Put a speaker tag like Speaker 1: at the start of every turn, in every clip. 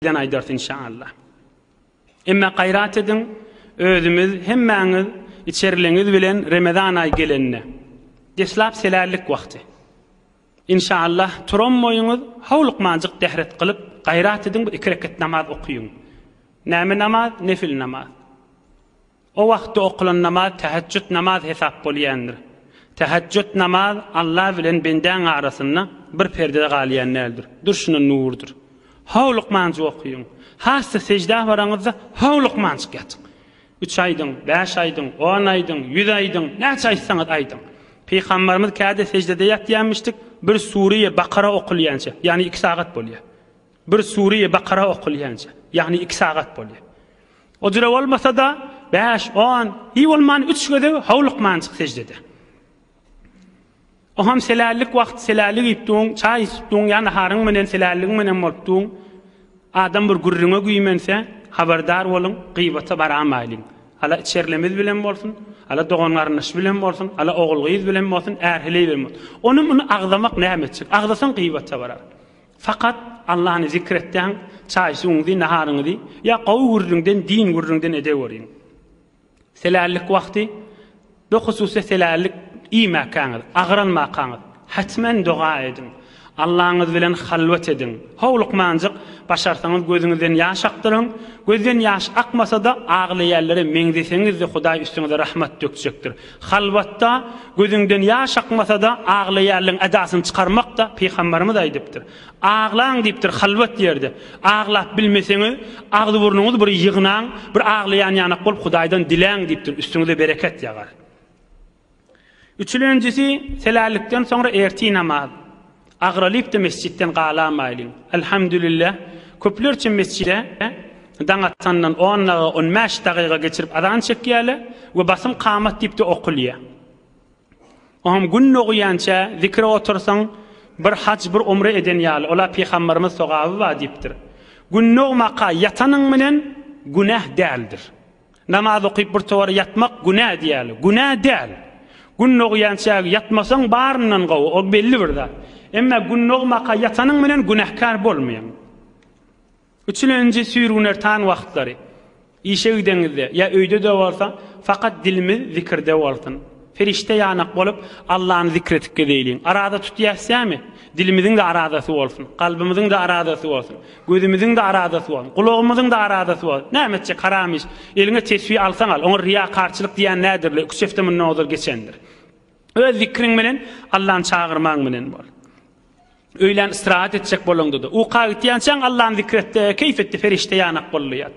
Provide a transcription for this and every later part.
Speaker 1: Ýene aýdars inşa Allah. Emme gaýrat ediň özümiz hemmäňiz içerleňiz bilen Remezan aýy gelende. Deslap selällik wagty. Inşa Allah turanmoýuňyz howlukmanjyk dehret gylyp gaýrat ediň bir iki reket namaz okyň. Näme namaz? Nefil namaz. O wagtda okulan namaz tähejjüt namaz hesap bolýandyr. Tähejjüt namaz Alla bilen bendäň arasynda bir perdede galýan däldir. Durşuna nurdur. How lukmanjyk okyň. Has-da seždä baraňyzda how lukmanjyk ýatyň. Üç aýdyň, bäş aýdyň, on aýdyň, ýüz aýdyň, näçe aýtsaňyz aýdyň. Pygambarymyz käde seždede ýatýarmyşdyk, bir Sure-i Bakara okulýança, ýagny iki sagat bolýar. Bir Sure-i Bakara okulýança, ýagny iki sagat bolýar. O jüre bolmasa-da, bäş, on, hiý bolman üç gezek howlukmanjyk sejde eder. Oham selällik wagty selälik iýipdiň, çaý içipdiň ýa naharyň menen selälligiň menen bolupdyň. Adam bir gürrüňe güýmense, habardar boluň, gybata baramaýlyň. Ala içerlimiz bilen bolsun, ala dogan-garyndaş bilen bolsun, ala ogul-gyz bilen bolsun, är-heleý bilen bolsun. Ony-muny agzamak näme etjek? Agzasaň gybata barar. Fakat Allany zikr etyaň çaý suwuňyzy naharyňyzy ya gowy gürrüňden din gürrüňden edeweriň. Selällik wagty bu hususda selällik iýmäkäňiz, agranmakaňyz hatmen doga ediň. Allaňyz bilen halwat ediň. Howlukmanjyk başarsaňyz gözüňizden ýaş akdyryň. Gözden ýaş akmasada aglaýanlara meňzeseňizde Hudaý üstüňize rahmat dökjekdir. Halwatda gözüňden ýaş akmasa-da, aglaýarlygyň edasyny çykarmak-da, pygamberimiz aýdypdyr. Aglaň diýipdir halwat ýerde. Aglap bilmeseňiz, agzy-burnuňyzy bir ýygnaň, bir aglaýan ýanak bolup Hudaýdan diläň diýipdir, üstüňize bereket ýagar. Üçülenjisi, helallikden soňra ertir namaz. Agyralypdy mesjitden galamaýlyn. Elhamdülillah, köplerçe mesjide daň atandan on daga, on bäş dagyga geçirip azan çekýärler we basym kamat diýipdi okulýar. Oňam gün dogýança zikre otursaň, bir haj, bir umre eden ýaly, ola Pygamberimiz sogaby bar diýipdir. Gün dogmaka ýatanyň bilen günäh däldir. Namaz okyp birtowar ýatmak günä diýäli. Günä däl. Gün dogýançäk ýatmasaň baryndan gowy, ol belli bir zat. Emma gün dogmaka ýatanyň bilen günäkär bolmaýaň. Üçülenji süýrgüner taň wagtlary. Işe gideňizde, ýa öýde-de bolsa, fakat dilimiz zikirde bolsun. Perişde ýanak bolup, Allany zikr edip gezeýliň. Araza tutýas ýamy? Dilimiziň-de arazasy bolsun. Kalbymyzyň-da arazasy bolsun. Gözümiziň-de arazasy bolsun. Gulagymyzyň-da arazasy bolsun. Näme etjek, haram iş. Eliňe tesbi alsaň al. Oňa riýakarçylyk diýýän näderler? Üç hepde mundan ozal geçendir. Öz zikriň bilen, Allany çagyrmaň bilen bol. Öýlän istirahat etjek bolaňda-da, uka gitýänçäň Allany zikr etde, keýp etde, perişde ýanak boldy ýat.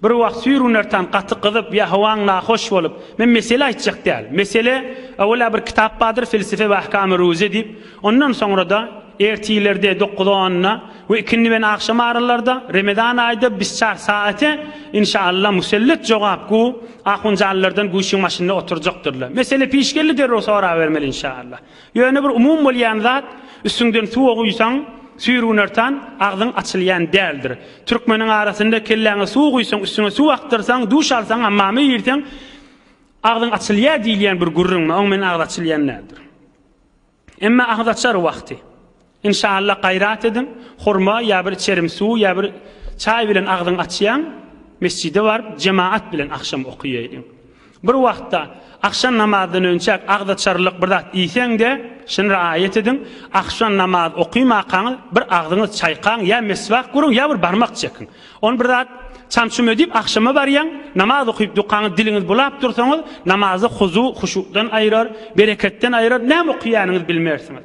Speaker 1: Bir wagt süýr Unertan gaty gyzyp, ýa howaň nahoş bolup, men mesele aýtjak däl. Mesele, öwela bir kitap bardyr Felsefe we ahkam-y ruze diýip, ondan soňra-da, ertirlerde, dokuz-onda we ikindiben agşam aralarda, remezan aýda bisçar saate, inşa Allah, musellet jogap gu, ahunjanlardan güýçüň başynda oturjakdyrlar. Mesele piş geldi derrew sorabermeli inşa Allah. Ýöne bir umum bolýan zat, üstüňden suwa guýsaň, süýrgünartan, agzyň açylýan däldir. Türkmeniň arasynda kelläňe suw guýsaň, üstüňe suw akdyrsaň, duş alsaň, hammama girseň, agzyň açylýar diýilýän bir gürrüň bar. Oň bilen agyz açylýan däldir. Emma agyz açar wagty. Inşallah gaýrat ediň, hurma ýa bir içerim suw ýa bir çaý bilen agzyňy açýaň, mesjide baryp jemaat bilen agşam okaýaýdyň. Bir wagtda agşam namazdan önçäk agzaçarlyk bir zat iýseň-de, şuny raýat ediň, agşam namaz okymakaňyz bir agzyňyz çaýkaň ýa meswak guruň ýa bir barmak çekiň. Ony bir zat çam-çum edip agşama barýaň, namaz okyp dukaňyz diliňiz bulap dursaňyz, namazy huzu, huşudan aýrar, bereketden aýrar, näme okýanyňyzy bilmersiňiz.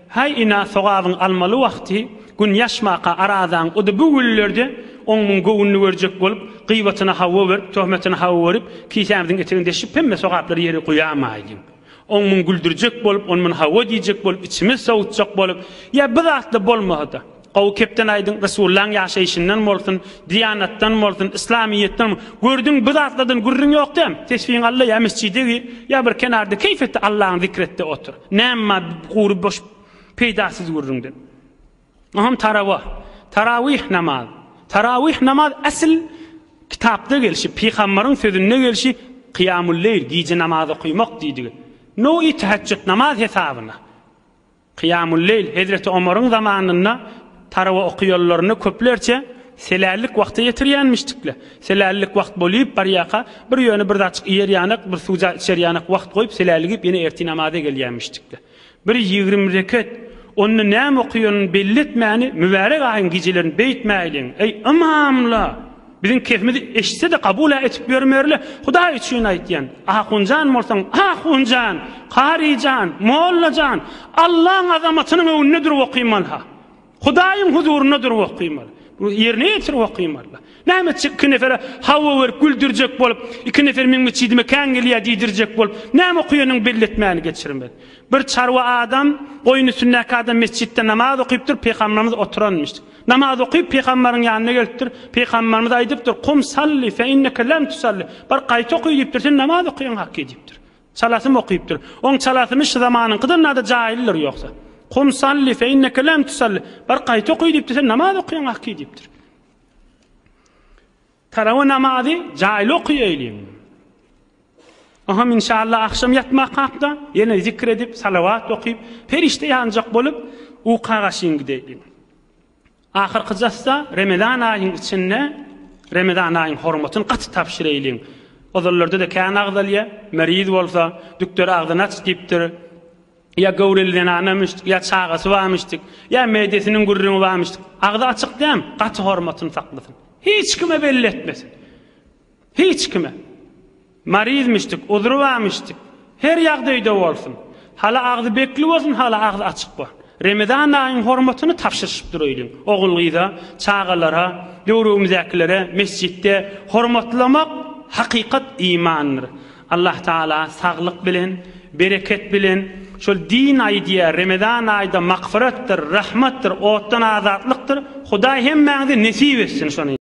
Speaker 1: Häý ina sogabyň almaly wagty gün ýaşmaka arazaň ody bu günlerde oň muň göwünini görjek bolup gybatyna hawa berip töhmetine hawa berip kisämiziň etegini deşip hemme sogaplary ýere guýamaýlyň oň muň güldürjek bolup on mun hawa diýjek bolup içimiz sowutjak bolup ýa bizatly bolmasada Gowy kepden aýdyň Resullaň ýaşaýşyndan bolsun Diýanatdan bolsun Yslamyýetden gördüň bu zatlardan gürrüň ýok däm tesbiň alla ýa mesjide gir ýa bir kenarda keýf etde Allaň zikr etde otur näm ma gury boş peýdasyz gürrüňden Oňam tarawa Tarawih namaz Tarawih namaz esl kitapda gelşi pygamberiň sözünde gelşi Kyýamul leýl gije namaz okymak diýdigi no i täheçjut namaz hesabyna Kyýamul-leýl Hezreti Omaryň zamanynda tarawa oky ýollaryna köplerçe selällik wagty ýetirýänmişdikle. Selällik wagt bolyp barýaka, bir ýöne bir zatjyk iýerýanak, bir suwja içerýanak wagt goýup selälligip ýene ertir namaza gelýänmişdikle. Bir ýigrimi reket, onda näme okyanyny belli etmäni mübärek aýyň gijelerini beýtmäýliň, eý, ymamla! Biziň kesimizi eşitse-de kabul-a etip ýörmerle, Hudaý üçin aýtýan. Ahunjan bolsaň, ahunjan, karyjan, mollajan, Allaň azamatynyň öňünde durup okymaly-ha. Hudaýyň huzurynda durup okymaly. Bunu ýerine ýetirip okymaly-la. Näme etjek iki nefere hawa berip güldürjek bolup, iki nefer meň metjidime kän gelýär diýdirjek bolup, näme okuýanyň belli etmäni geçirmez. Bir çarwa adam, goýun üstündäki adam metjitde namaz okypdyr, Pygamberimiz oturanmyş. Namaz okyp, pygamberiň ýanyna gelipdir. Pygamberimiz aýdypdyr, Kum salli fe inneke lem tusalli. Bar gaýt oky diýipdir, sen namaz okaýan haky diýipdir. Çalasym okypdyr. Oň çalasymy şu zamanyňkydan nada jaýyldyr ýogsa. Kum salli fe inneke lem tusalli. Bar gaýt oky diýipdir, sen namaz okaýan haky diýipdir. Tarawa namazy jaýly okaýaýlyň. Aham inşallah agşam ýatmak hakda ýene zikr edip, salawat okyp, perişde ýanjak bolup uka gaşyn gidäýliň. Ahyrky jassa Remezan aýyň içinde Remezan aýyň hormatyny gaty tabşyraýlyň. Ozallarda-da kän agzalýar, meriz bolsa, dükder agzyny aç diýipdir. Ýa göwreli zenanamyşdyk, ýa çagasy barmyşdyk, ýa meýdesiniň gürrüňi barmyşdyk. Agzy açyk däm, gaty hormatyny saklasyn. Hiç kime belli etmesin. Hiç kime. Maryzmyşdyk, uzry barmyşdyk. Her ýagdaýda bolsun. Hala agzy bekli bolsun, hala agzy açyk bolsun. Remezan aýyň hormatyny tabşyryşyp duraýlyň. Ogul-gyza, çagalara, döwrümizdäkilere mesjitde hormatlamak hakykat imandyr. Allah Taala saglyk bilen, bereket bilen şol din aýy diýýär, Remezan aýda magfyratdyr, rahmatdyr, otdan azatlykdyr, Hudaý hemmäňize nesip etsin şony.